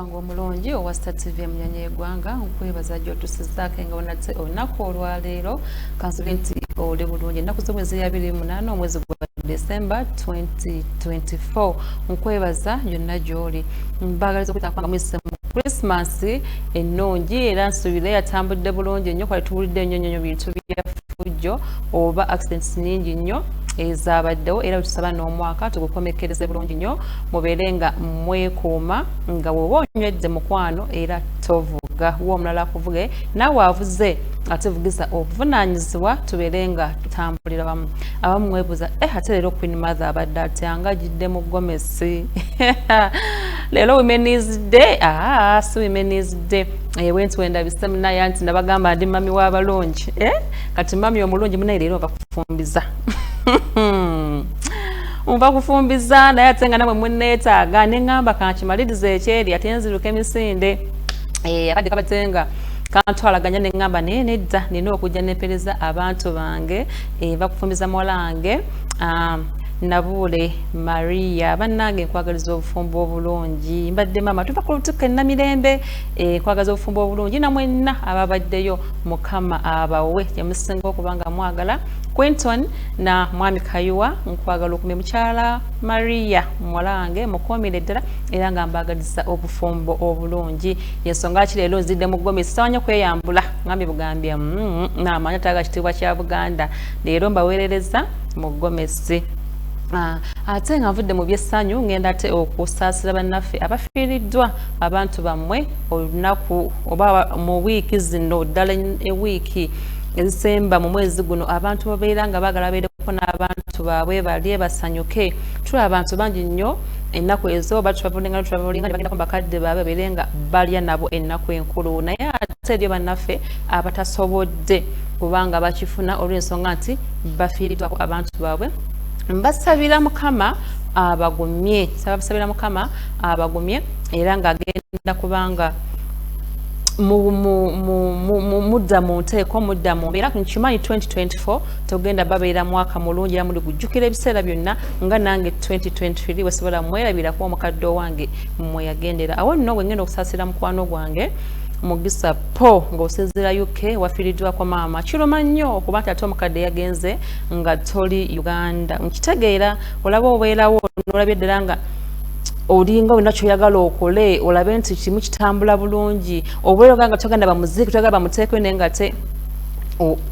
wange omulungi owa star tv emunyanya egwanga nkwebaza gyotusizaako nga onate olunaku olwaleero kansobe nti oli bulungi ennaku zo mwezi yabiri munaana omwezi gwa december 2024 nkwebaza yonna gyoli mbagaliza okutanga muyise mu christmas ennungi era nsuubira yatambudde bulungi ennyo kwali tuwulidde ennyo nyonyo bintu byafujjo oba accidents nyingi nnyo ezabaddewo era wetusaba n'omwaka tugukomekkereze bulungi nnyo mubeere nga mwekuuma nga woba onywedde mukwano era tovuga wa omulala kuvuge naawe avuze atuvugiza obuvunaanyizibwa tubeere nga tutambulira bamu abamu mwebuuza eh ate leero queen mother abadde atyanga ajidde mu gomesi si leero women's day aa ah, si women's day eh, wenti wendabise munaye anti nabagamba ndi mami wabalungi eh? kati mami omulungi munaye leero ova kufumbiza nva kufumbiza naye ate nga namwe muneetaaga neŋamba kankimaliriza ekyeri ate nziruka emisinde eh, akadde kabatenga kantwalaganya neŋamba naye nedda nina okujja nempereza abantu bange eh, vakufumbiza muwala wange ah, Nabuule Maria bannange nkwagaliza obufumbo obulungi mbadde maama tuva ku lutikko ennamirembe eh, nkwagaliza obufumbo obulungi na mwenna ababaddeyo mukama abawe gyemusinga okuba nga mwagala quinton na mwami kayuwa nkwagala okumi mukyala maria muwala wange mukuumire ddala era nga mbaagaliza obufumbo obulungi yensonga ki leero nzidde mu ggomi sisawa nyo kweyambula ngambi bugambye mm, naamanya taga kitiibwa kya buganda leero mbaweerereza mu gomesi Ah, ate nga nvudde mu byessanyu ngenda te okusaasira bannaffe abafiiriddwa abantu bammwe olunaku oba mu wiiki zino ddala ewiiki ezisemba mu mwezi guno abantu babeera nga baagala babeereko n'abantu baabwe balye basanyuke tula abantu bangi nnyo ennaku ezo batravelinga travelinga nebagendako bakadde baabwe babeere nga balya nabo ennaku enkulu naye ate ebyo bannaffe abatasobodde kubanga bakifuna olw'ensonga nti bafiiriddwako abantu baabwe mbasabira mukama abagumye sababasabira mukama abagumye era ng'agenda kubanga mudda mu nteeko mudda mu mbeera nkimanyi 2024 togenda babeera mwaka mulungi era muli gujjukira ebiseera byonna nga nange 2023 wesobola mwerabirako omukadde owange mweyagendera awo nno bwe ngenda okusaasira mukwano gwange mugisa po ng'osinziira uk wafiiriddwako maama kiruma nnyo okuba nti ate omukadde yagenze nga toli uganda nkitegeera olaba obeerawo nolabye ddala nga olinga olina kyoyagala okole olabe nti kimu kitambula bulungi obweroga nga togenda bamuziiki togenda bamuteekwe naye nga te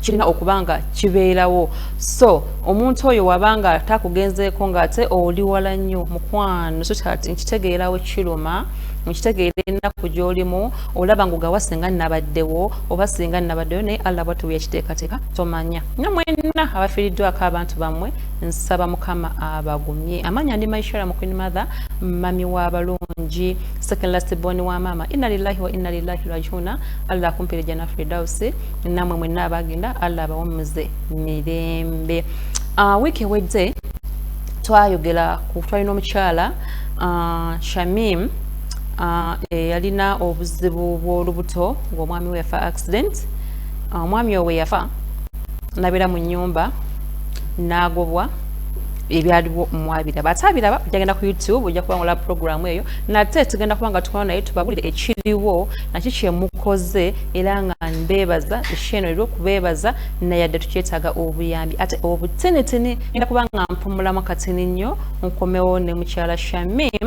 kirina okuba nga kibeerawo so omuntu oyo wabanga takugenzeeko ngaate oli wala nnyo mukwano so kati nkitegeerawo kiruma mukitegeera ennaku gyolimu olaba ngogawa singa nabaddewo oba singa nabaddeyo naye allah bwatuwa ekiteekateeka tomanya nyo mwenna abafiiriddwako abantu bammwe nsaba mukama abagumye amaanyi andi maishara mu queen mother mami w'abalungi second last born wa maama inna lillahi wa inna lillahi rajuna allah akumpire jana fridausi namwe mwenna abagenda allah abawummuze mirembe uh, wiiki ewedde twayogera ku twalina omukyala uh, shamim Ah, eh, yalina obuzibu bw'olubuto ng'omwami we yafa accident ah, omwami owe yafa nabeera mu nyumba n'agobwa ebyaliwo mwabiraba ate abiraba jagenda ku youtube ojja kuba ngola programu eyo nate tugenda kuba nga tukola naye tubabulire ekiriwo naki kyemukoze era nga mbeebaza esheeno era okubeebaza nayadde tukyetaaga obuyambi ate obutinitini genda kuba nga mpumulamu katini nnyo nkomewo ne mukyala shamim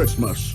Christmas.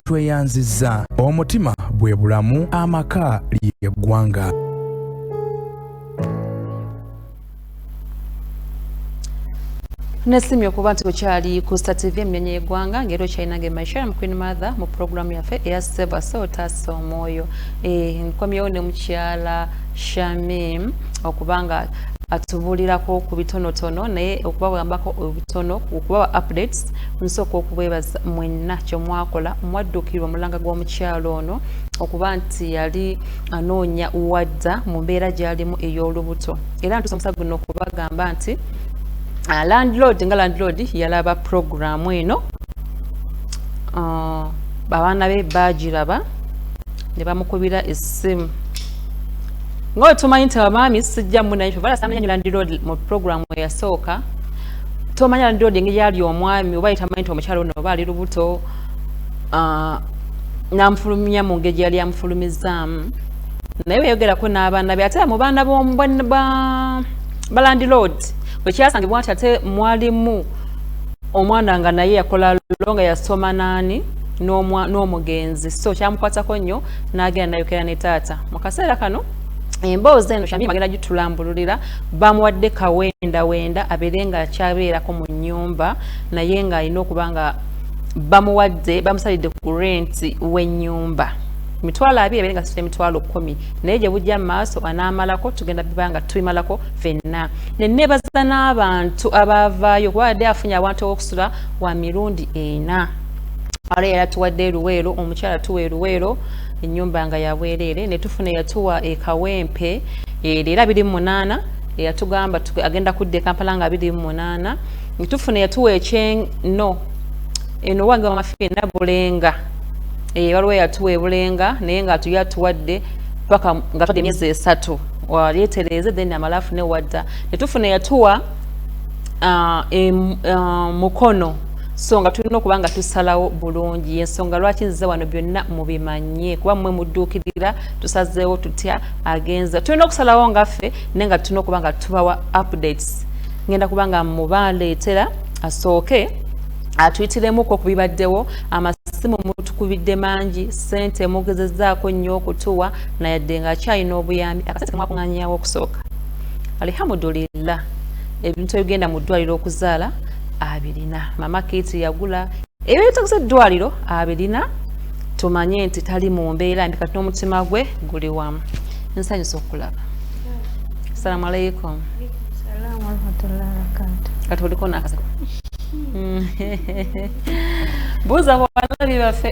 tweyanzizza omutima bwe bulamu amaka ly'eggwanga nesimye okuba nti okyali ku star tv emnyonyi yegwanga ngeri okyalinange maisha mu queen mother mu programu yaffe eya seva so otaasa omwoyo eh, nkomyewo ne mukyala shamim okubanga atubulirako ku bitonotono naye okubawambako obutono okubawa updates nsooka okubwebaza mwenna kyemwakola mwaddukirwa omulanga gw'omukyalo ono okuba nti yali anoonya wadda mu mbeera gyalimu ey'olubuto era ntusa omusaga guno okubagamba nti ah, landlord nga landlord yalaba puroguramu eno ah, abaana be baagiraba ne bamukubira essimu ngaotumanyi nti abamaami sijja munaye fe balasamanya nyo landlord mu puroguramu eyasooka tomanya ndi odi engeri ali omwami oba yetamanyi nti omukyalo ono oba ali lubuto ah, namufulumya mu ngeri yali amufulumizaamu naye weyogerako n'abaana be ate mu baana balandilord bwekyasangibwa nti ate mwalimu omwana nga naye yakola lo nga yasoma naani n'omugenzi so kyamukwatako nnyo n'agenda nayokera ne taata mu kaseera kano emboozi eno shamim agenda gitulambululira bamuwadde kawenda wenda abeere nga akyabeerako mu nyumba naye nga alina okuba nga bamuwadde bamusalidde ku renti w'ennyumba mitwalo abiri abeere nga situla emitwalo kumi naye gye bujja maaso anaamalako tugenda biba nga tubimalako fenna neneebaza n'abantu abaavaayo kuba adde afunye abantu ow'okusula wa mirundi ena ara yali atuwadde eruweero omukyala tuwa eruweero ennyumba nga ya bwereere ne tufuna eyatuwa e Kawempe ere era biri mu munaana eyatugamba agenda kudda e Kampala nga biri mu munaana ne tufuna eyatuwa ekyeno eno wange wamafiina bulenga eh, waliwo eyatuwa ebulenga naye nga atuyo atuwadde paka nga tudde emyezi esatu walyetereeze then amala afune wadda ne tufuna eyatuwa ah, ah, mukono so nga tulina okuba nga tusalawo bulungi yensonga lwaki nzize wano byonna mubimanye kuba mwe mudduukirira tusazeewo tutya agenza tulina okusalawo nga ffe naye nga tulina okuba nga tubawa updates ngenda kuba nga mubaleetera asooke atuyitiremuko ku bibaddewo amasimu mutukubidde mangi sente mugezezaako nnyo okutuwa nayadde nga akyalina obuyambi akasente kamwakuŋanyawo okusooka alhamdulillah ebintu ebigenda mu ddwaliro okuzaala abirina mama kiti yagula ebyetakuza eddwaliro abirina tumanye nti tali mu mbeera mbi kati n'omutima gwe guli wamu nsanyusa okulaba assalamu alaikum kati oliko nakasa hmm. buuza bawalabi baffe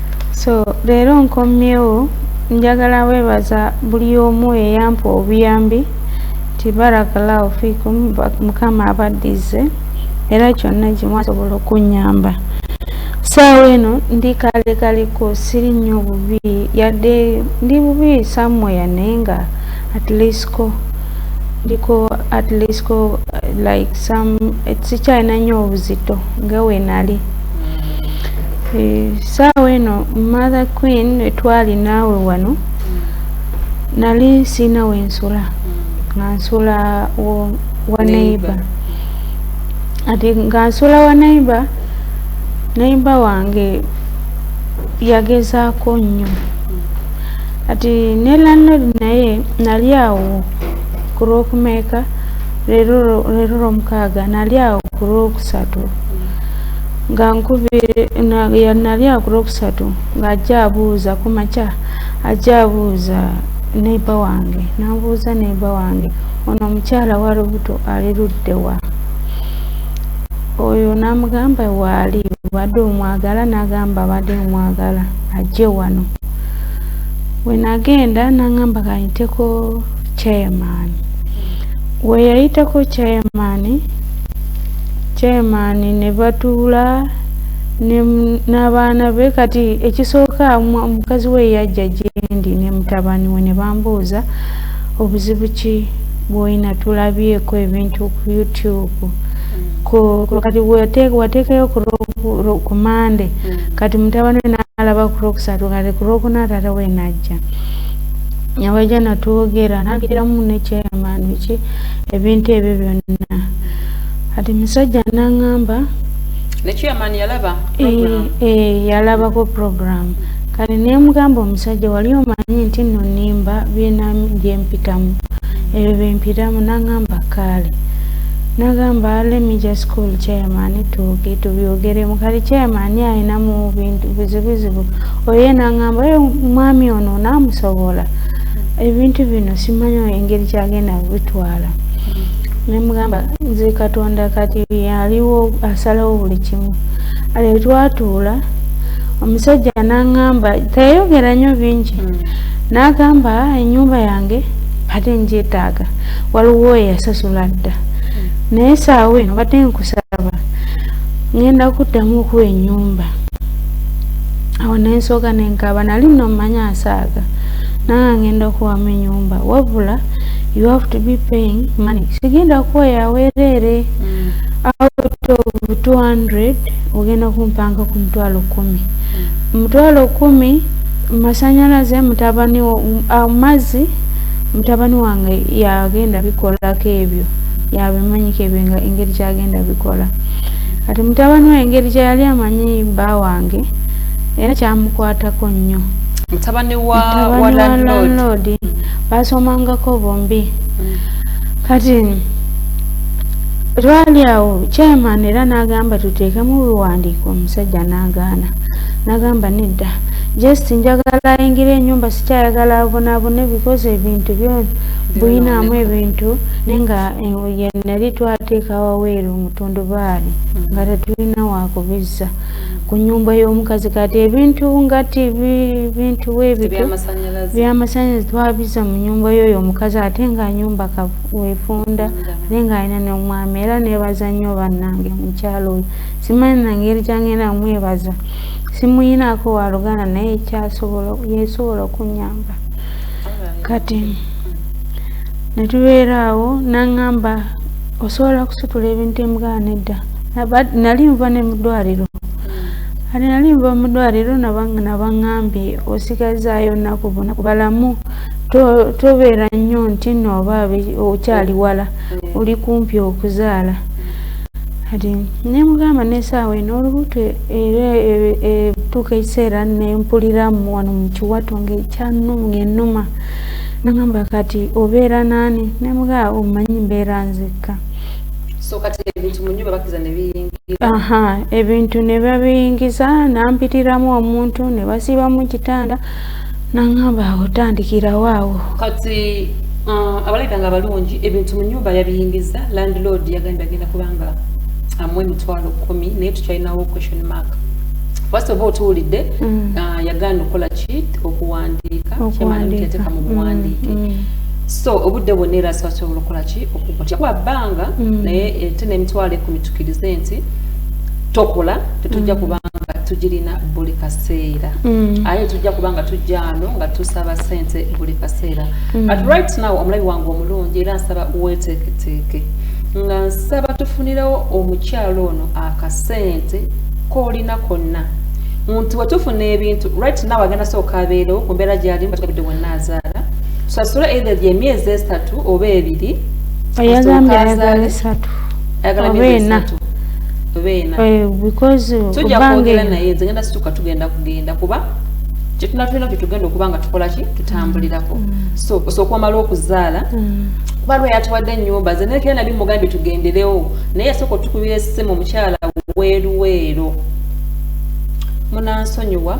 so leero nkomyewo njagala webaza buli omu eyampa obuyambi nti barakallahu fikum mukama abaddize era kyonna kimwasobola okunyamba saawa eno ndi kale kaliko siri nnyo bubi yadde ndi bubi samweya naye nga atleastko ndiko atleastko like some sikyalina nnyo obuzito nga wenali eh, saawa eno mother queen etwali naawe wano nali siina wensula nga nsula wa neighbor ati nga nsula wa neighbor neighbor wange yagezaako nnyo ati ne landlord naye nali awo ku lwokumeeka leero lwomukaaga nali awo ku lwokusatu nga nkubira nali akulwokusatu ng'ajja abuuza ku makya ajja abuuza neiba wange nabuuza neiba wange ono omukyala wa lubuto ali luddewa oyo namugamba waali obadde omwagala nagamba abadde omwagala ajje wano wenagenda nangamba kayiteko chairman weyayiteko chairman chairman nebatuula n'abaana be kati ekisooka mukazi we yajja gyendi ne mutabani we ne bambuuza obuzibu ki bwolina tulabyeko ebintu ku youtube kati wateekayo ku mande mm. kati mutabani we n'alaba ku lwokusatu kati ku lwokuna taata we najja nabaja natwogera nagiramu nekyeyamaaniki ebintu ebyo byonna kati musajja nangamba yalabako program kati nemugamba omusajja wali omanyi nti no nimba byena gyempitamu ebyo byempitamu nangamba kaale nagamba lemme just call chairman tuuge tubyogeremu kati chairman alina mu bintu bizibuzibu oye nangamba mwami ono namusobola ebintu bino simanyo engeri kyagenda bitwala nemugamba nze katonda kati yaliwo asalawo buli kimu ale twatuula omusajja nangamba teyayogera nnyo bingi hmm. nagamba ah, enyumba yange bade njetaaga waliwo eyasasula dda hmm. naye saawa eno bade nkusaba ngenda kuddamu okuwa enyumba awo nensooka nenkaba nali nomanya asaaga nanga ngenda okuwamu enyumba wabula you have to be paying money sigenda kuwa yawereere mm. out of 200 ogenda kumpanga ku mutwalo kumi mm. mutwalo kumi masanyalaze mutabani amazzi uh, mutabani wange yagenda bikolako ebyo yabimanyiko ebyo engeri gyagenda bikola kati mutabani we engeri gyeyali amanyi bba wange era kyamukwatako nnyo mutabani wa wa landlord basomangako bombi mm. kati twali awo chairman era n'agamba tuteekemu biwandiiko omusajja n'agaana n'agamba nedda just njagala ayingira enyumba sikyayagala abonabone because ebintu byona bulinamu ebintu naye nga eh, nali twateeka waweeru omutundubaali nga tetulina wakubizza ku nyumba y'omukazi kati ebintu nga tivi bintu webityo byamasanyalazi twabiza mu nyumba yoyo omukazi ate nga nyumba wefunda ate nga alina nomwami era nebaza nnyo bannange mukyalo oyo simanyi nangeri kyangenda mwebaza simuyinako waluganda naye yesobola okunyamba kati netubeeraawo nangamba osobola kusitula ebintu emugana edda nali nva ne mudwaliro kati nali nva mudwaliro nabaŋambye osigazaayo nnaku bona balamu tobeera nnyo nti nooba okyali wala mm. oli kumpi okuzaala kati nemugamba nesaawa eno olubuto era etuuka e, e, ekiseera nempuliramu wano mukiwato ngaekyanunga enuma nagamba kati obeera naani nemugaa omanyi mbeera nzekka so kati ebintu mu nyumba bakiza ne biyingira aha ebintu ne babiyingiza nampitiramu omuntu ne basiba mu kitanda nangamba otandikirawo awo kati uh, abalabika nga abalungi ebintu mu nyumba yabiyingiza landlord yagambye agenda kubanga amu emitwalo kumi naye tukyalinawo question mark first of all tuwulidde mm. uh, yagaana okukola ki okuwandiika kyemanti yateka mu buwandiike mm, mm. so obudde bwonna era sibasobola okukola ki okukutyakuba bbanga mm. naye ate eh, n'emitwalo ekumi tukirize nti tokola tetujja mm. kuba nga tugirina buli kaseera mm. aye tujja kuba nga tujja ano nga tusaba sente buli kaseera but right now omulabi wange omulungi era nsaba weteeketeeke nga nsaba tufunirawo omukyalo ono akasente koolina konna nti wetufuna ebintu right now agenda sooka abeerewo ku mbeera gyalimu batugabidde wonna azaala tusasule either gye myezi esatu oba ebiri oyagambye ayagala esatu oba ena eh, tujja kwogera naye nze ngenda situka tugenda kugenda kuba kyetuna tulina kyetugenda okuba nga tukola ki tutambulirako mm. so osooka omala okuzaala mm. kuba lwe yatuwadde ennyumba ze naye kera nali mugambye tugenderewo naye yasooka otukubira esimu omukyala weeruweero munansonyiwa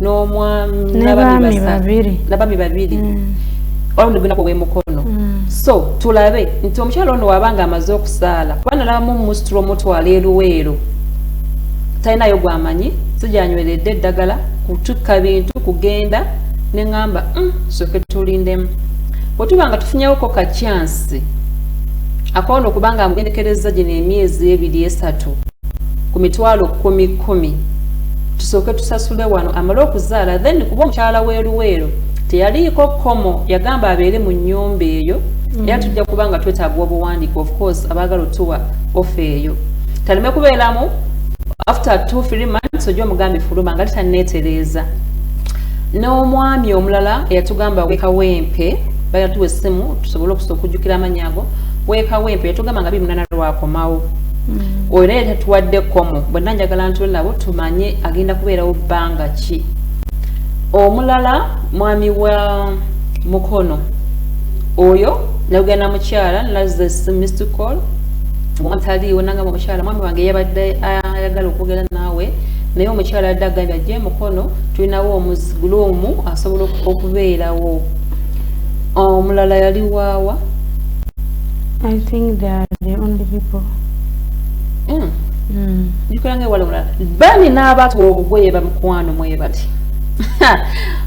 n'omwami n'abaami babiri n'abaami babiri mm. olwo gulina ku bwemukono mm. so tulabe nti omukyala ono waba nga amaze okusaala kuba nalabamu musitula omutwala eruweero talinayo gwamanyi sijanyweredde eddagala kutukka bintu kugenda ne ŋamba mm, soke tulindemu bwe tuba nga tufunyewoko ka kyansi akoona okuba nga amugendekereza gino emyezi ebiri esatu ku mitwalo kumi kumi tusooke tusasule wano amale okuzaala then kuba omukyala weruweero teyaliiko komo yagamba abeere mu nyumba eyo mm. era tujja kuba nga twetaaga obuwandiika ofcourse abaagala otuwa ofe eyo taleme kubeeramu after two three months oja omugambe fuluma nga titaneetereeza n'omwami omulala eyatugamba wekawempe bayatuwa essimu tusobole okusa okujjukira amannya ago wekawempe yatugamba nga bimunana lwakomawo mm. oyo naye tatuwadde komo bwenna njagala ntule nabo tumanye agenda kubeerawo bbanga ki omulala mwami wa mukono oyo nagenda mukyala nazes mr call ataliiwo nangamba omukyala mwami wange yabadde ayagala okwogera naawe naye omukyala adde agambye ajje mukono tulinawo omuguluumu asobola okubeerawo omulala yali waawa I think they are the only people. Mm. Mm. Nikulange wale wala. Bani na abatu obugoye ba mkwano mwe bati.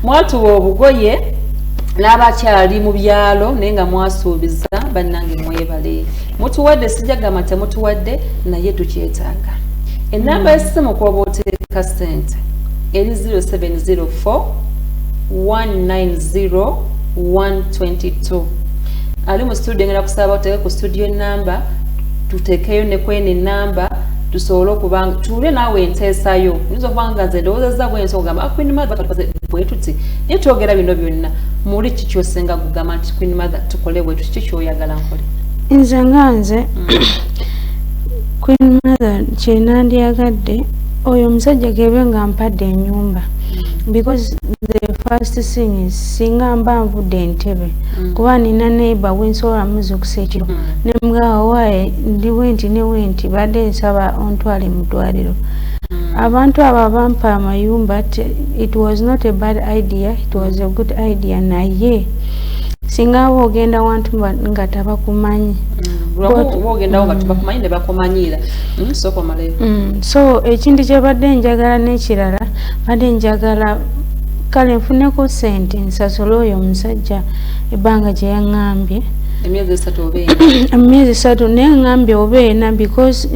Mwatu obugoye na abakyali mu byalo naye nga mwasuubiza bannange mwebale mutuwadde sijagamba nti mutuwadde naye tukyetaaga enamba yesimu kwoba oteeka sente eri 0704 190 122 ali mu studio ngenda kusaba oteeke ku studio enamba tutekeyo ne kwene enamba tusobole okuba tuule naawe enteesayo nyinza okuba nga nze ndowoozezza bwensi okugamba ah, queen mother tukoze bwetuti naye twogera bino byonna muli ki kyosinga kugamba nti queen mother tukole bwetuti ki kyoyagala nkole nze nga nze mm. queen mother kyenandyagadde oyo omusajja gebe nga mpadde enyumba mm. because the first thing is singa mba nvudde entebe mm. kuba nina neighbor wensobola muzukusa ekiro mm. nemugawa waye ndi wenti ne wenti badde nsaba ontwale mudwaliro mm. abantu abo abampa amayumba it was not a bad idea it was a good idea naye singa aba ogenda wantu nga tabakumanyi so ekintu kyebadde njagala nekirala badde njagala kale nfuneko sente nsasole oyo omusajja ebbanga gye yaŋŋambye emyezi esatu naye ŋŋambye oba ena because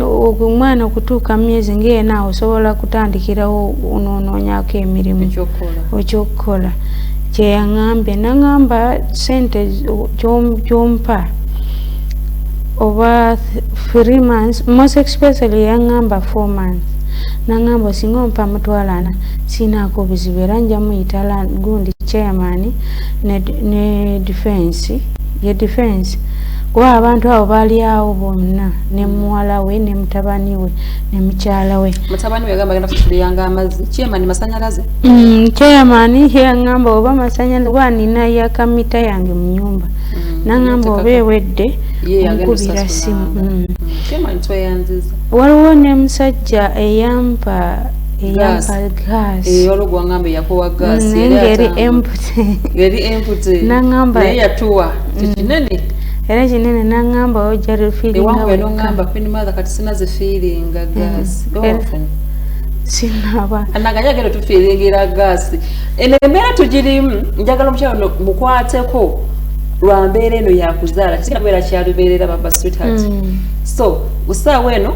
omwana okutuuka myezi ngaena osobola kutandikirawo nonoonyako emirimu okyokukola kyeyaŋambye naŋamba sente kyompa oba three months most especially yaŋamba four months naŋamba osinga ompa mutwalana sinaako buzibu era nja muyita gundi chairman ne, ne defense ye defense kuba abantu abo baali awo bonna ne muwala we ne mutabani we ne mukyala we mutabani we yagamba agenda kusuliyanga amazzi chairman masanyalaze mm, chairman yangamba oba masanyalaze kuba nina yakamita yange mu nyumba mm, nangamba oba ewedde omukubira simu mm. waliwo ne musajja eyampa era kinene nangamba ojarirfilingamba finimatha kati sina zifiiringa mm. gas sinaba anaganya gero tufiiringira gas eno embeera tugirimu njagala omukyalo no mukwateko lwa mbeera eno yakuzaala kiina kubeera kyalubeerera baba sweetheart mm. so usaawa eno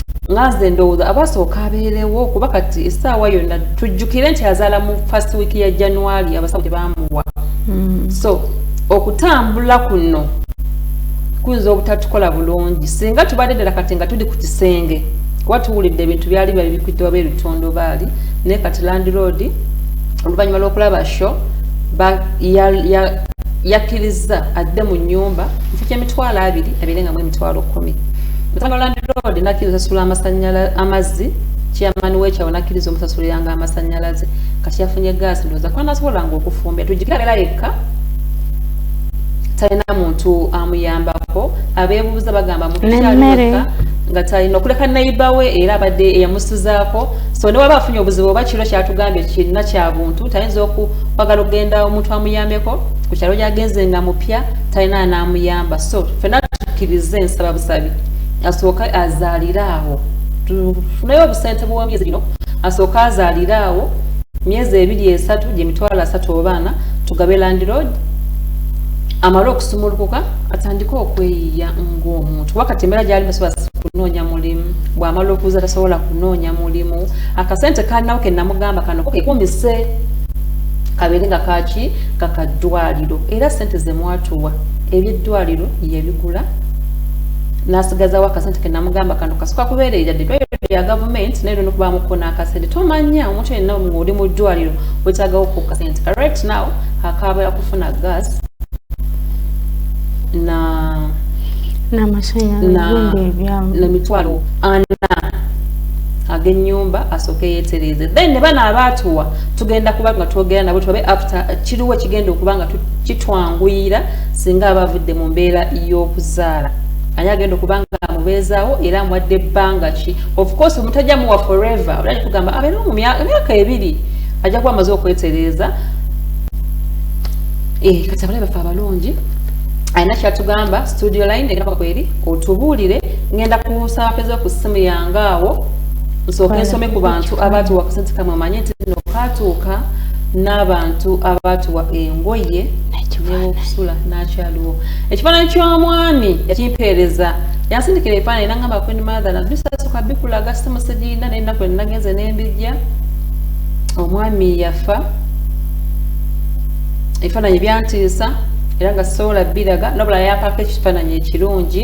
nga nze ndowooza abasooka abeerewo kuba kati essaawa yonna tujjukire nti azaala mu first week ya january abasawo tebamuwa hmm. so okutambula kuno kuyinza obutatukola bulungi singa tubadde ddala kati nga tuli ku kisenge kuba tuwulidde ebintu byali bya bikwidde waba ebitondo baali naye kati landiroodi oluvannyuma lw'okulaba sho yakkirizza adde mu nnyumba ekyo kyemitwalo abiri abeere nga mu emitwalo kumi Mutabani wa landiroodi n'akkiriza osasula amazzi kyeyamani wekyawo n'akkiriza omusasuliranga amasannyalaze kati yafunye gaasi ndowooza kuba nasobolanga okufumba tujjukira abeera yekka talina muntu amuyambako abeebuuza bagamba mutukyaliyekka nga talina okuleka nayiba we era abadde eyamusizaako so ne waba afunye obuzibu oba kiro kyatugambye kirina kya buntu tayinza okwagala okugenda omuntu amuyambeko ku kyalo gyagenze nga mupya talina anamuyamba so fena tukirize ensaba busabi asooke azaalire awo tufuneyo obusente bwomyezi bino asooke azaalire awo myezi ebiri esatu gyemitwalo asatu obaana tugabe landirod amale okusumulukuka atandike okweyiya ngaomuntu wakati embeera gyali tasobola kunoonya mulimu bwamala okuza tasobola kunoonya mulimu akasente kalinawo kenamugamba kano kekumise kabeere nga kaki kaka ddwaliro era sente zemwatuwa ebyeddwaliro yebigula nasigazawo akasente kenamugamba kano kasuka kubeerera ya gavumenti naye lino kuba mukona akasente tomanya omuntu yenna oli mu ddwaliro wetagawo ku kasente ka right now akaaba yakufuna gas na namitwalo ana agenyumba asooke yetereze then ne bana abaatuwa tugenda kuba nga twogera nabo tulabe after kiriwo ekigenda okuba nga kitwanguyira singa aba avudde mu mbeera y'okuzaala ani agenda okuba nga amubeezaawo era amuwadde ebbanga ki ofcourse omutajja muwa forever ola kitugamba abeera mu myaka ebiri ajja kuba amaze okwetereeza eh, kati abalabe baffe abalungi alina kyatugamba studio line egenda kweri otubuulire ngenda kusaapeza ku ssimu yange awo nsooke nsome ku bantu abaatuwa akasente kamwe manye nti no kaatuuka n'abantu abaatuwa engoye newokusula nakyaliwo ekifaananyi ky'omwami yakimpeereza yansindikira ebifaananyi nangamba queen mother nabisasuka bikulaga simusigirina naye ennaku enagenze nembijja omwami yafa ebifaananyi byantiisa era nga sisobola biraga nabula yapaako ekifaananyi ekirungi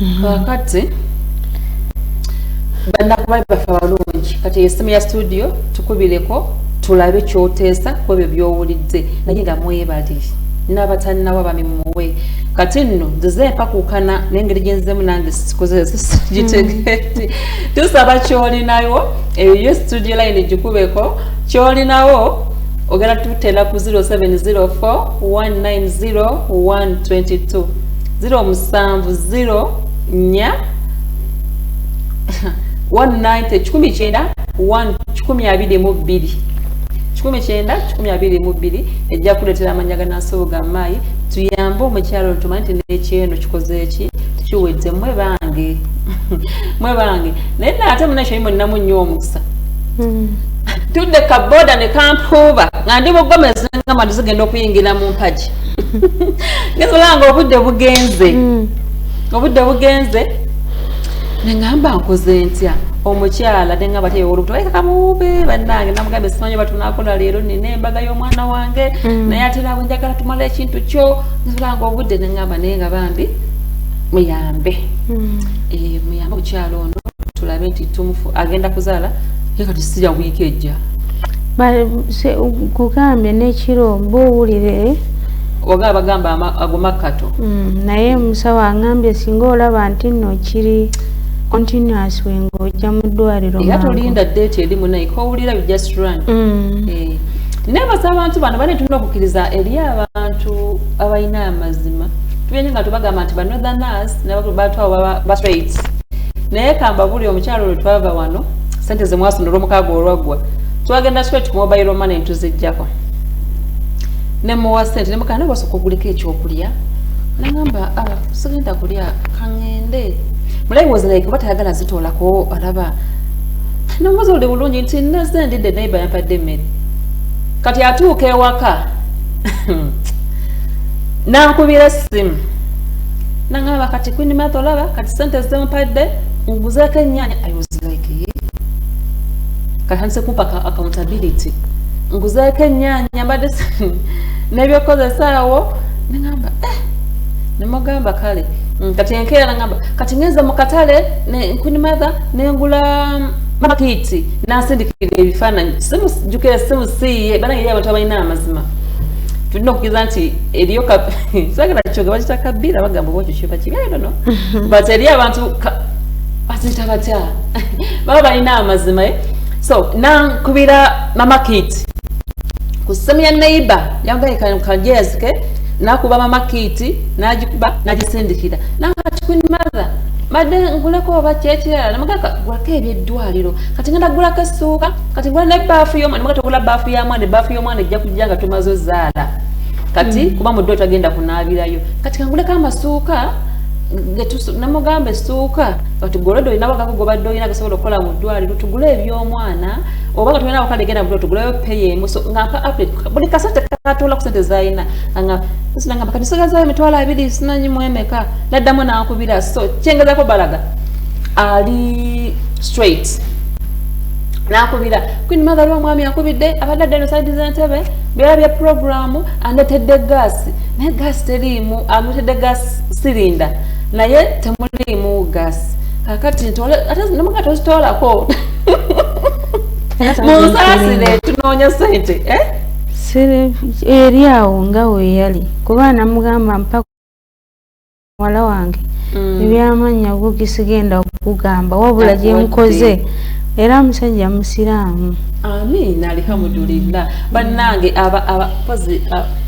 mm-hmm. kakati banakubaye bafe abalungi kati esimu ya studio tukubireko tulabe kyoteesa ku ebyo byowulidde naye nga mwebali n'abatalinawo abami muwe kati nno nzize empakuukana n'engeri gyenzemu nange sikozesgitegeti mm. tusaba kyolinawo eyo studio line gikubeko kyolinawo ogenda tutera ku 0704 190 122 ziro musanvu ziro nya 190 kikumi kyenda 1 kikumi abiri mu bbiri kikumi kyenda kikumi abiri mu bbiri ejja kuleetera amanya ganasoboga maayi tuyambe omukyalo ntuma nti nekyeno kikoze eki kiwedde mwe bange mwe bange naye naate munakyo yimuninamu nnyo omukisa hmm. tudde kaboda ne kampuuba nga ndi bugomezi nga matu zigenda okuyingira mu mpagi ngesolanga obudde bugenze mm. obudde bugenze nengamba nkoze ntya omukyala nenga bateewo olubuto aye kamuwuube bannange namugambe simanyi batunakola leero nina embaga y'omwana wange mm. naye ate nabwe njagala tumala ekintu kyo ngesolanga obudde nengamba naye nga bambi muyambe mm. eh, muyambe omukyala ono tulabe nti tumufu agenda kuzaala ye kati sirya wiiki ejja kugambye nekiro mba owulire eh? oba abagamba ago makkato mm, naye musawo angambye singa olaba nti nno kiri continuous we ng'ojja mu ddwaliro era tolinda deeti eri munaye kowulira you just run mm. eh. nebaza abantu bano bane tulina okukkiriza eri abantu abalina amazima tugenye nga tubagamba nti banotherners nabatwawo bastraight naye kamba buli omukyalo lwe twava wano sente zemwasonda olwomukaaga olwaggwa twagenda straight ku mobile money ntuzijjako nemuwa sente nemugana wasooka oguliko ekyokulya nagamba ah, sigenda kulya kaŋende mulayi was like oba tayagala zitoolako alaba nomubuzi oli bulungi nti naze ndidde naye bayampadde emmere kati atuuka ewaka nankubira essimu nangamba kati kwini matha olaba kati sente zempadde nguzeeko ennyanya was like ye katanise kumpa ka accountability nguzeeko ennyanya mbadde nebyokukozesaawo nengamba eh nemugamba kale mm, kati enkeera nagamba kati ngenze mu katale queen mother nengula mm, makiti nasindikira ebifaananyi simujukira esimu siiye banange eri abantu abalina amazima tulina okukiriza nti eriyo sagala kyoge bakita kabiira bagamba oba okyo kiba kibi i don't know but eri abantu baziyita batya baba balina amazima eh? so nankubira mama kit ku ssemu ya neighbor yambaye kajezi ke nakuba mama kit nagikuba nagisindikira nakati queen mother madde nguleko oba kyekirala namugaka gulako ebyeddwaliro kati ngenda gulako essuuka kati ngula ne baafu yomwana namugati ogula baafu ya mwana ebaafu y'omwana ejja kujja nga tumaze ozaala kati mm. kuba mudde otagenda kunaabirayo kati kanguleko amasuuka namugamba esituuka batugolede olina bagako gobadde olina gasobola okukola mu ddwaliro tugule ebyomwana oba nga tulina wakale genda mudo tuguleyo peye emuso nga mpa update buli kasa tekatoola ku sente zalina nga sinangamba kati sigazayo emitwalo abiri sinanyi mwemeka naddamu nankubira so kyengezako balaga ali straight nakubira queen mother wa mwami akubidde abadde adda noside zentebe byala bya programu andetedde gaasi naye gaasi teriimu amuletedde gaasi sirinda naye temuliimu gas kakati nemugati ozitwalako munsasire tunoonya sente eh? eri awo nga weyali kuba namugamba mpaka muwala wange mm. ebyamannya bugi sigenda okugamba wabula gyenkoze era musajja musiraamu amiina alihamudulillah bannange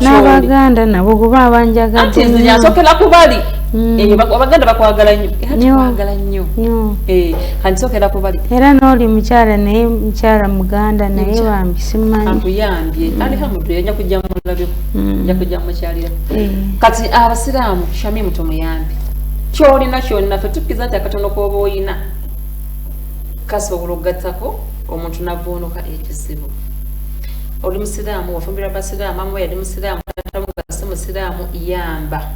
n'abaganda nabo kuba abanjagadenyasokera kubali mm. abaganda bakwagala nyokwagala nyo eh, kati sokera kubali era nooli mukyala naye mukyala muganda naye bambi simanyiyambye mm. alihamudu yanja kujja mulabyo mm. nja kujja mukyalira eh. kati abasiraamu shami muto muyambi kyolina kyolina fe tukiza nti akatono kooba oyina kasobola okugattako omuntu navvuunuka ekizibu oli musiraamu wafumbirwa basiraamu maama yali musiraamu taata wo nga si musiraamu yamba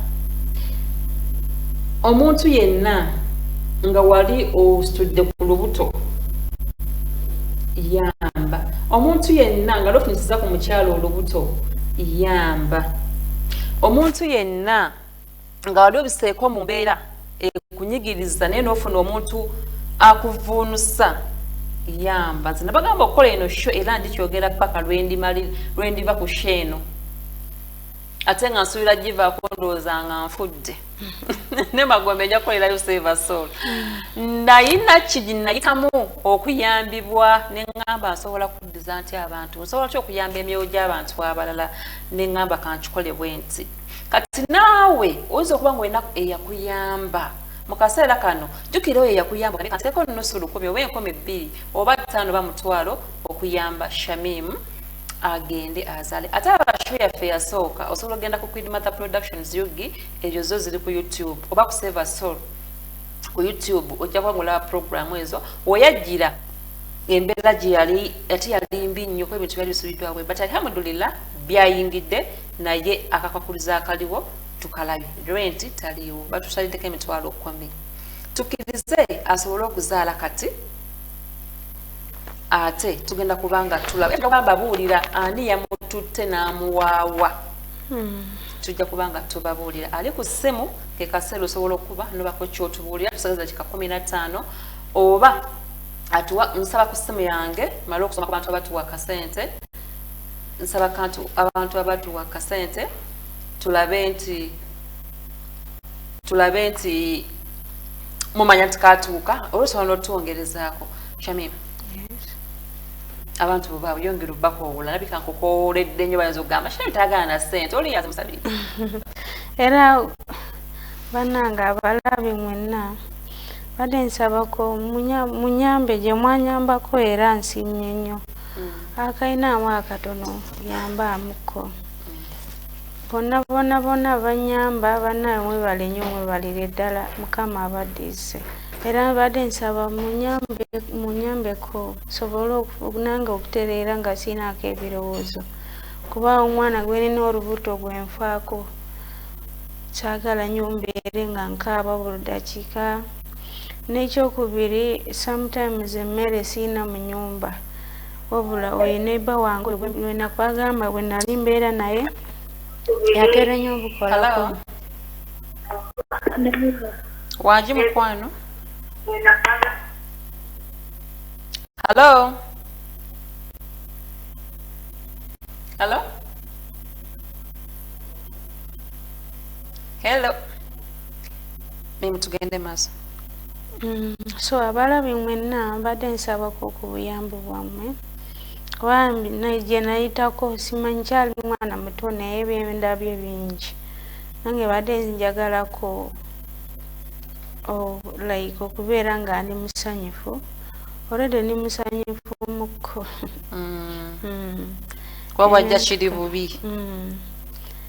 omuntu yenna nga wali ositudde ku lubuto yamba omuntu yenna nga lofunyisiza ku mukyalo olubuto yamba omuntu yenna nga wali obiseeko mu mbeera ekunyigiriza naye nofuna omuntu akuvuunusa yamba nze nabagamba okukola eno sho era njikyogera paka lwendiva ku sho eno ate nga nsuubira givaako ndowooza nga nfudde ne magombe nja kukolerayo seva sol nayina kiginayitamu okuyambibwa neŋŋamba nsobola kuddiza nti abantu nsobola ki okuyamba emyoyo gy'abantu abalala neŋŋamba kankikole bwe nti kati naawe oyinza okuba nga olina eyakuyamba mu kaseera kano jjukira oyo eyakuyamba kane kateeko nusu lukumi oba enkumi bbiri oba ttaano ba mutwalo okuyamba shamim agende azale ate abasho yaffe yasooka osobola okugenda ku quid mother productions yugi ezo zo ziri ku youtube oba ku seva sol ku youtube ojja kuba ngolaba programu ezo weyajjira embeera gye yali ate yali mbi nnyo ku ebintu byali bisubiddwawe but alhamdulillah byayingidde naye akakwakuriza akaliwo tukalabi renti taliwo batusalideko emitwalo kumi tukirize asobole okuzaala kati ate tugenda kubanga tulabagamba buulira ani yamututte n'amuwaawa hmm. tujja kubanga tubabuulira ali ku ssimu ke kaseera osobola okuba nobako kyotubuulira tusagaza kika kumi na ttaano oba atuwa nsaba ku ssimu yange male okusoma ku bantu abatuwa kasente nsaba kantu abantu abatuwa kasente tulabe nti tulabe nti mumanya nti katuuka olwosobola notwongerezaako shamim abantu bwebaba yongera obubakoowola alabika nkukoowoledde nyo bayinza okugamba shamim tayagala na sente oliyaza musabiri era banange abalabi mwenna badde nsabako munyambe gyemwanyambako era nsiimye nnyo akalinaamu akatono yambaamuko bonna bona bona banyamba banawe mwebale nyo mwebalire ddala mukama abaddiise era mbadde nsaba munyambeko sobole nange okutereera nga siinaako ebirowoozo kuba omwana gwenina olubuto gwenfaako kyagala nyo mbeere nga nkaaba buli dakiika nekyokubiri sometimes emmere siina munyumba wabula oyo neba wange wenakwagamba bwenali mbeera naye yatera nyo obukolako wagi mukwano hallo hallo hello mimi tugende maaso mm, so abalabi mwenna mbadde nsabako ku buyambi bwammwe kuba gye nayitako simanyi kyali mwana muto naye byendabye bingi nange badde njagalako like okubeera nga ndi musanyufu olwedde ndi musanyufu muko mm. mm. kuba wajja kiri bubi mm.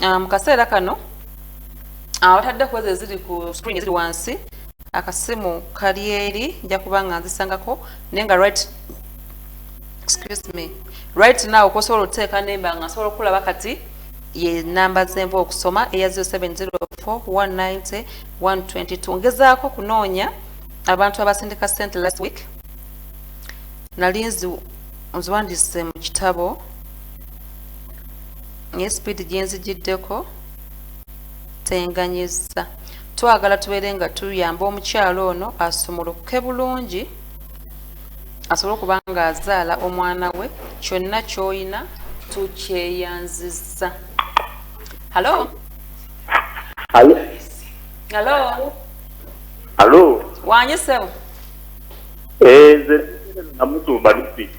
ah, mu kaseera kano awatadde ah, kuweza eziri ku screen eziri wansi akasimu kali eri nja kuba nga nzisangako naye nga right excuse me right now kosobola oteeka nemba nga nsobola okulaba kati ye namba zenva okusoma eya 0704190122 ngezaako kunoonya abantu abasindika sente last week nali nziwandise mu kitabo naye sipiidi gye nzigiddeko tenganyizza twagala tubeere nga tuyamba omukyalo ono asumulukuke bulungi asobole okuba nga azaala omwana we kyonna kyolina tukyeyanziza halo halo halo halo wanyisewo enze eh, namutumba nifiki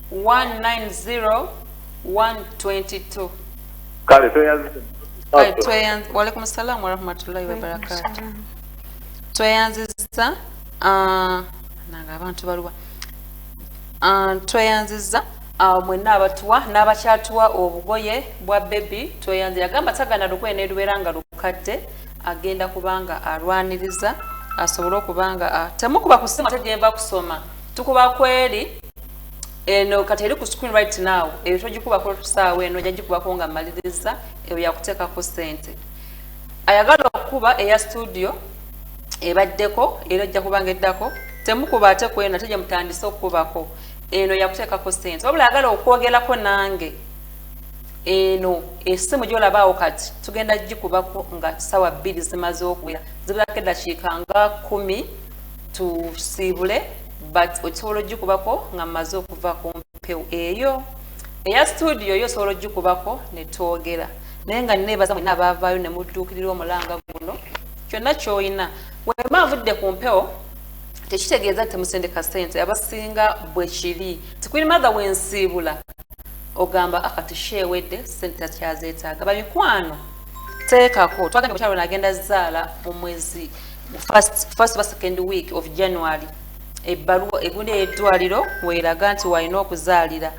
190122 kale tweyanzizza walaikum salamu warahmatullahi wabarakatu tweyanzizza ah, nanga abantu baluwa ah, tweyanzizza ah, mwenna abatuwa n'abakyatuwa obugoye bwa bebi tweyanzi yagamba tagana lugoye nelubeera nga lukadde agenda kubanga alwaniriza asobole okubanga temukuba kusima tegyemba kusoma tukuba kweri eno kati eri ku screen right now eyo togikubako tusaawa eno ojja gikubako nga mmaliriza eyo yakuteekako ssente ayagala okukuba eya studio ebaddeko era ojja kubanga eddako temukuba ate ku eno ate gye mutandise okukubako eno yakuteekako ssente wabula ayagala okwogerako nange eno esimu gyolabaawo kati tugenda gikubako nga sawa bbiri zimaze okuwera zibulako eddakiika nga kumi tusiibule but okisobola ogikubako nga mmaze okuva ku mpewo eyo eya studio yo osobola ogikubako ne twogera naye nga nebaza mwena abaavaayo ne mudduukirira omulanga guno kyonna kyolina wema avudde ku mpewo tekitegeeza nti musendeka sente abasinga bwe kiri tikwiri mathe wensiibula ogamba akati sheewedde sente takyazeetaaga bamikwano teekako twagenda omukyalo nagenda zaala mu mwezi first, first ba second week of january ebbaluwa egunda eyeddwaliro weeraga nti walina okuzaalira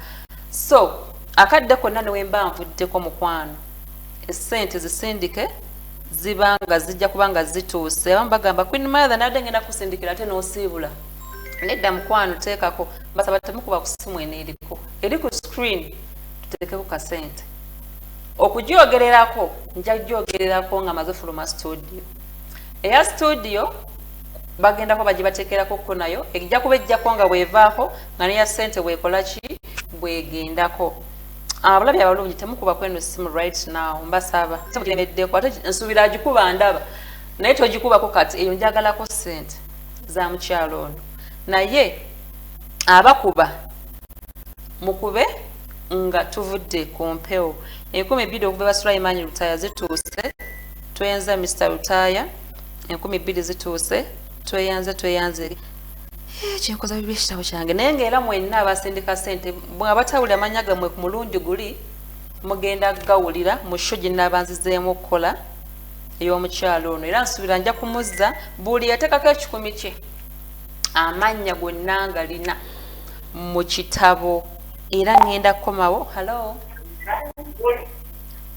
so akadde konna newemba nvuddeko mukwano esente zisindike ziba nga zijja kuba nga zituuse abamu bagamba queen mother nadde ngenda kusindikira ate nosiibula nedda mukwano teekako basaba temukuba kusimu eno eriko eri ku screen tuteekeko kasente okugyogererako nja gyogererako nga maze fuluma studio eya studio bagendako bagibatekerako ko nayo ejja kuba ejjako nga bwevaako nga neya sente bwekola ki bwegendako abulabi ah, abalungi temukuba kweno simu right now mbasaba temukiremeddeko ate nsuubira agikuba ndaba naye togikubako kati eyo njagalako sente za mukyalo ono naye abakuba mukube nga tuvudde ku mpewo enkumi bbiri okuva basulayimaanyi lutaya zituuse tweyanza Mr Lutaaya enkumi bbiri zituuse tweyanze tweyanze eri eh, kyenkoza bibi ekitabo kyange naye ngaera mwenna abasindika sente mwabatawuli amanya gamwe ku mulundi guli mugenda gawulira mu sho ginabanzizeemu okukola ey'omukyalo ono era nsuubira nja kumuzza buli yateekako ekikumi kye amannya gonna nga lina mu kitabo era ŋŋenda kukomawo hallo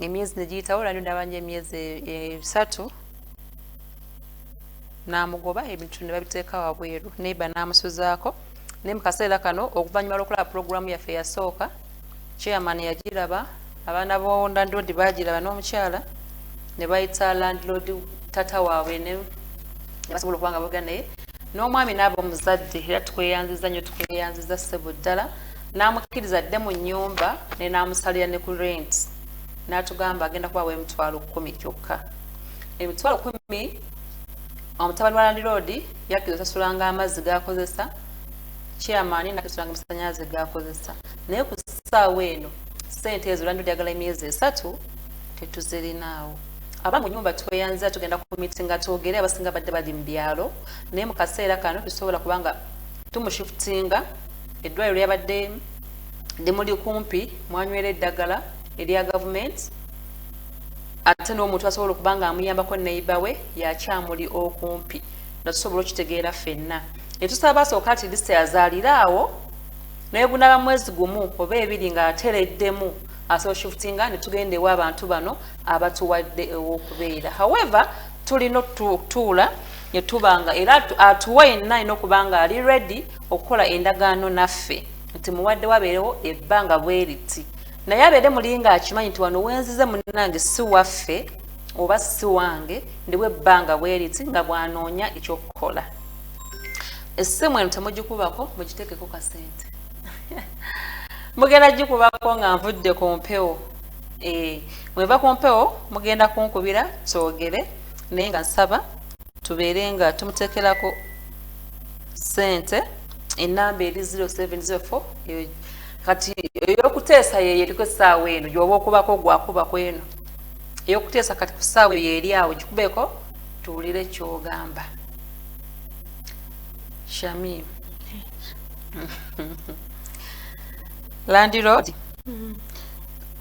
emyezi negiyitawo lwali ndaba nyo emyezi esatu namugoba ebintu nebabiteeka wabweru neiba namusuzaako naye mukaseera kano okuvanyuma lwokulaba pulogulaamu yaffe yasooka chairman yagiraba abaana bo landlord bagiraba n'omukyala nebayita landlord tata waabwe nebasobola okuba nga boga naye n'omwami naaba omuzadde era tukweyanziza nyo tukweyanziza ssebo ddala n'amukkiriza adde mu nnyumba ne n'amusalira ne ku renti n'atugamba agenda kubawa emitwalo kkumi kyokka emitwalo kkumi omutabani wa landiroodi yakkiriza osasulanga amazzi g'akozesa chairman nakisulanga amasannyalaze g'akozesa naye ku ssaawa eno ssente ezo landiroodi yagala emyezi esatu tetuzirinaawo aba mu nyumba tweyanzira tugenda ku mitinga twogere abasinga badde bali mu byalo naye mu kaseera kano tusobola kubanga tumushifutinga eddwaliro lyabadde limuli kumpi mwanywera eddagala erya gavumenti ate n'omuntu asobola okuba nga amuyambako neiba we yakyamuli okumpi nga tusobola okitegeera fenna netusaba asooka ati list azaalire awo naye bunaba mwezi gumu oba ebiri nga atereddemu asoshifutinga netugenda ewa abantu bano abatuwadde ewokubeera however tulina okutuula ne tubanga era atuwa yenna alina okuba nga ali redi okukola endagaano naffe nti muwadde wabeerewo ebbanga bweriti naye abeere mulinga akimanyi nti wano wenzize munange si waffe oba si wange ndiwo ebbanga bweriti nga bwanoonya ekyokukola essimu eno temugikubako mugitekeko kasente mugenda gikubako nga nvudde ku mpewo eh, mweva ku mpewo mugenda kunkubira twogere naye nga nsaba tubeere nga tumuteekerako sente enamba eri 0704 kati eyokuteesa yeyo eriko esaawa eno gyoba okubako gwakuba kweno eyokuteesa kati ku saawa eyo eri awo gikubeko tuwulire kyogamba shamim landlord mm.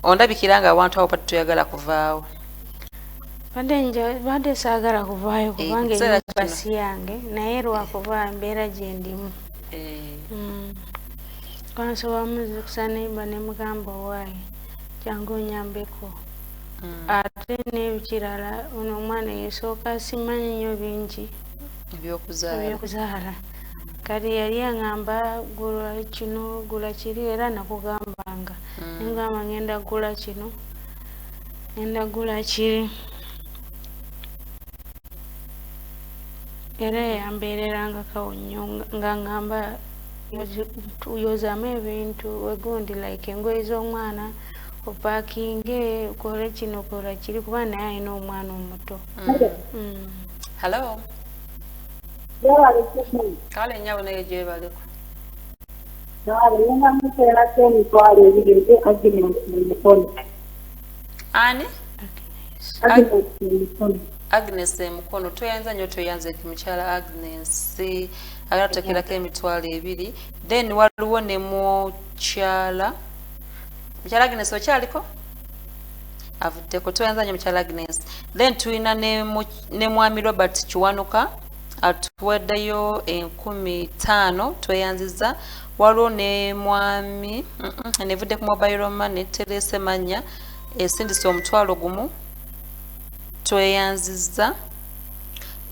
ondabikira nga abantu abo pati toyagala kuvaawo badde nja badde saagala kuvaayo eh, kubanga enyumbasi yange naye lwakuba mbeera gyendimu eh. mm. kwansoba muzukusa nemba nemugamba owaaye jangu onyambeko mm. ate nebikirala ono omwana yesooka simanyi nyo bingi ebyokuzaala kati yali aŋamba gula kino gula kiri era nakugambanga mm. nengamba ngenda gula kino ngenda gula kiri era yambeererangakawo nnyo nga ŋamba yozamu ebintu wegundi like engoye z'omwana opakinge ukole kino kola kiri kuba naye alina omwana omuto mm. mm. hello kale nyabo naye gyebaleko ani agnes emukono tweyanza nyo tweyanza ekimukyala agnes agatatekerako emitwalo ebiri then waliwo ne mukyala mukyala agnes okyaliko avuddeko tweyanza nyo mukyala agnes then tulina ne ne mwami robert kiwanuka atuwaddeyo enkumi taano tweyanziza waliwo ne mwami nevudde ku mobile money terese manya esindise omutwalo gumu tweyanziza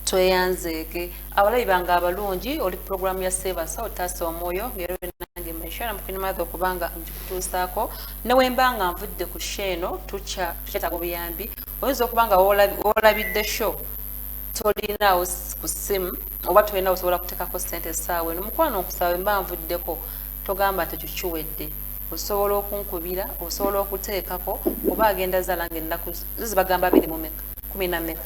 tweyanzeege abalabi bange abalungi oli puroguramu ya seebasa otaasa omwoyo ngero nange maishara mukunimadha okubanga ngikutuusaako newemba nga nvudde ku sheeno tukyetaaga obuyambi oyinza okuba nga wolabidde show tolinaawo ku simu oba tolina osobola kuteekako sente esaawa eno mukwano nkusaba mba nvuddeko togamba nti ekyo kiwedde osobola okunkubira osobola okuteekako oba agenda zaala nga ennaku zizi bagamba biri mumeka kumi na meka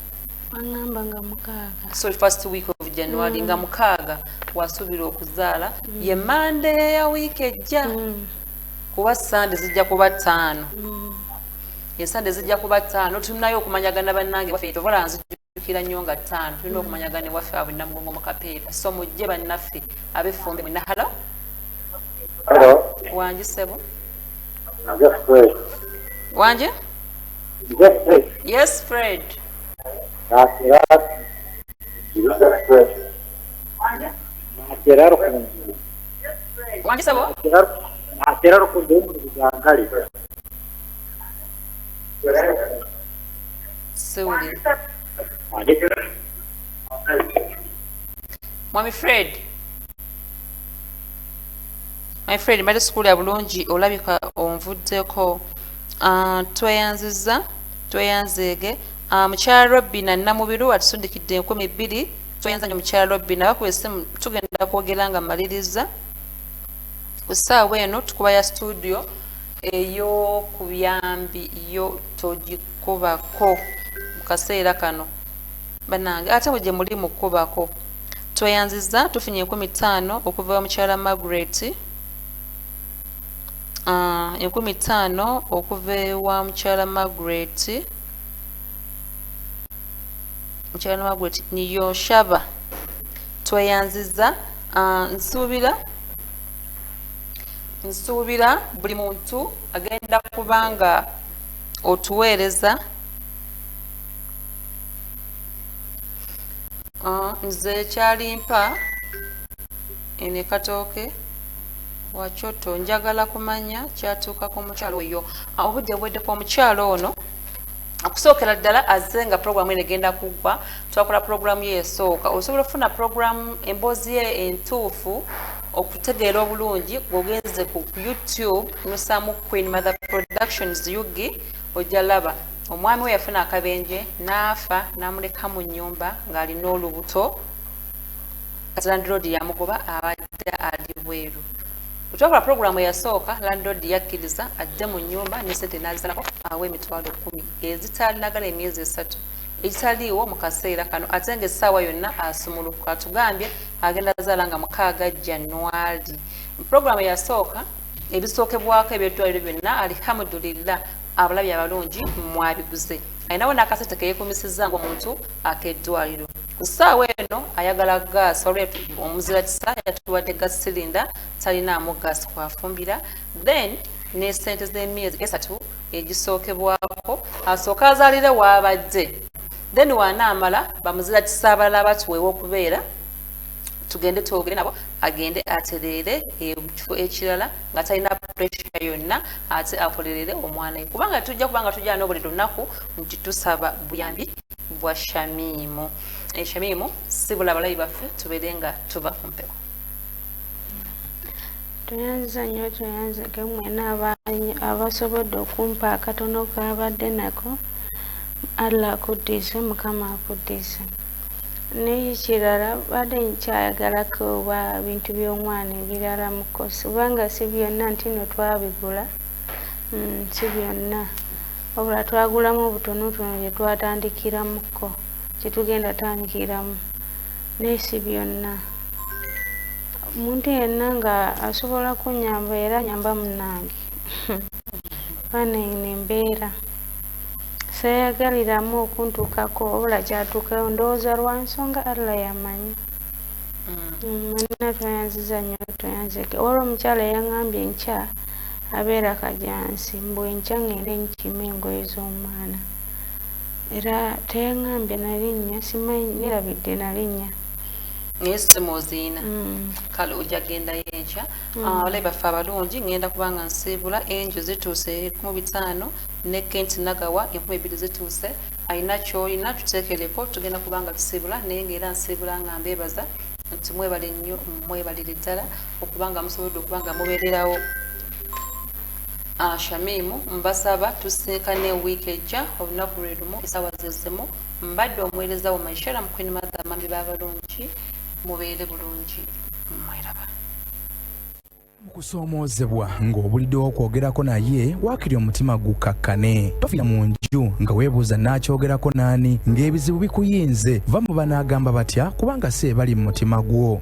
agamba nga mukaaga so first week of january mm. nga mukaaga wasuubira okuzaala mm. ye mande ya wiiki ejja mm. kuba sande zijja kuba ttaano mm. ensande zijja kuba ttaano tulinayo okumanyagana bannange waffe tovola nzijukira nnyo nga ttaano tulina okumanyagana ewaffe abwe namugongo mu kapeepa so mujje bannaffe ab'effumbe mwena halo wangi ssebo wangi yes fred wangi ssebo siwulira mwami fred my fred mbadde sikuwulira bulungi olabika onvuddeko ah, tweyanziza tweyanzeege ah, mukyala robina namubiru atusundikidde enkumi bbiri tweyanza nyo mukyala robina bakuba esimu tugenda kwogera nga maliriza ku ssaawa eno tukuba ya studio eyokubuyambi yo togikubako mukaseera kano banange ate bwe gyemuli mukubako tweyanziza tufunye enkumi ttaano okuva wa mukyala margaret ah, enkumi ttaano okuva ewa mukyala margaret mukyala margaret niyo shaba tweyanziza ah, nsuubira nsuubira buli muntu agenda kubanga otuweereza ah, nze kyalimpa eno ekatooke wakyoto njagala kumanya kyatuuka ku mukyalo oyo ah, obudde bwedde ku omukyalo ono okusookera ddala aze nga puroguramu eno egenda kuggwa twakola puroguramu ye esooka osobola okufuna puroguramu emboozi ye entuufu okutegeera obulungi bwogenze ku youtube nusamu queen mother productions ug ojja laba omwami we yafuna akabenje naafa namuleka mu nyumba ng'alina olubuto kati landlord yamugoba abadde ali bweru okyakula pulogulaamu eyasooka landlord yakkiriza adde mu nyumba nesente nazalako awa emitwalo kumi ezitalinagala emyezi esatu ekitaliiwo mu kaseera kano ate nga essaawa yonna asumulukuka atugambye agenda zaala nga mukaaga januali programu yasooka ebisookebwako ebyeddwaliro byonna alihamudulillah abalabi abalungi mwabiguze alinawo nakasente keyekumisizza ngaomuntu akeddwaliro ku ssaawa eno ayagala gaasi olwetu omuzira kisa yatuwadde gas silinda talinaamu gaasi kwafumbira then nesente z'emyezi esatu egisookebwako asooka azaalire waabadde then wanaamala bamuzira kisaabalala abatuweewa okubeera tugende twogere nabo agende atereere ekifo ekirala nga talina pressure yonna ate akolerere omwana we kubanga tujja kubanga tujja nobuli lunaku nti tusaba buyambi bwa shamiimu eshamiimu eh, sibula abalabi baffe tubeere nga tuba ku mpewo tweyanziza nnyo tweyanzege mwena abasobodde okumpa akatono kabadde nako allah akuddize mukama akuddize naye kirala badde nkyayagala kuba bintu by'omwana ebirala mukosi kubanga si byonna nti no twabigula mm, si byonna wabula twagulamu obutonotono gyetwatandikiramuko kyetugenda tandikiramu naye si byonna omuntu yenna nga asobola kunyamba era nyamba munange banene embeera seyagaliramu okuntuukako obula kyatuukayo ndowooza lwa nsonga allah yamanyi mwenna mm. tweyanziza nyo tweyanzeke olwo omukyala yangambye nkya abeera kajansi mbu enkya ngende nkima engoye z'omwana era teyaŋambye nalinnya simanyi nerabidde nalinnya naye simu oziina mm. kale ojja kugendayo enkya mm. ah, walayi baffe abalungi ngenda kubanga nsiibula enjo zituuse ekumu bitaano ne kent nagawa enkumi ebbiri zituuse alina kyolina tuteekereko tugenda kubanga tusiibula naye ngaera nsiibula nga mbeebaza nti mwebale nnyo mwebalire ddala okubanga musobodde okubanga mubeererawo Ah Shamim mbasaba tusisinkane week ejja olunaku lwelumu esawa zezimu mbadde omuwereza wo my sharam queen mother mami babalungi mubeere bulungi mweraba kusoomoozebwa ng'obuliddewo okwogerako naye waakiri omutima gukkakkane tofira mu nju nga weebuuza naakyogerako naani ng'ebizibu bikuyinze va mu banaagamba batya kubanga si ebali mu mutima gwo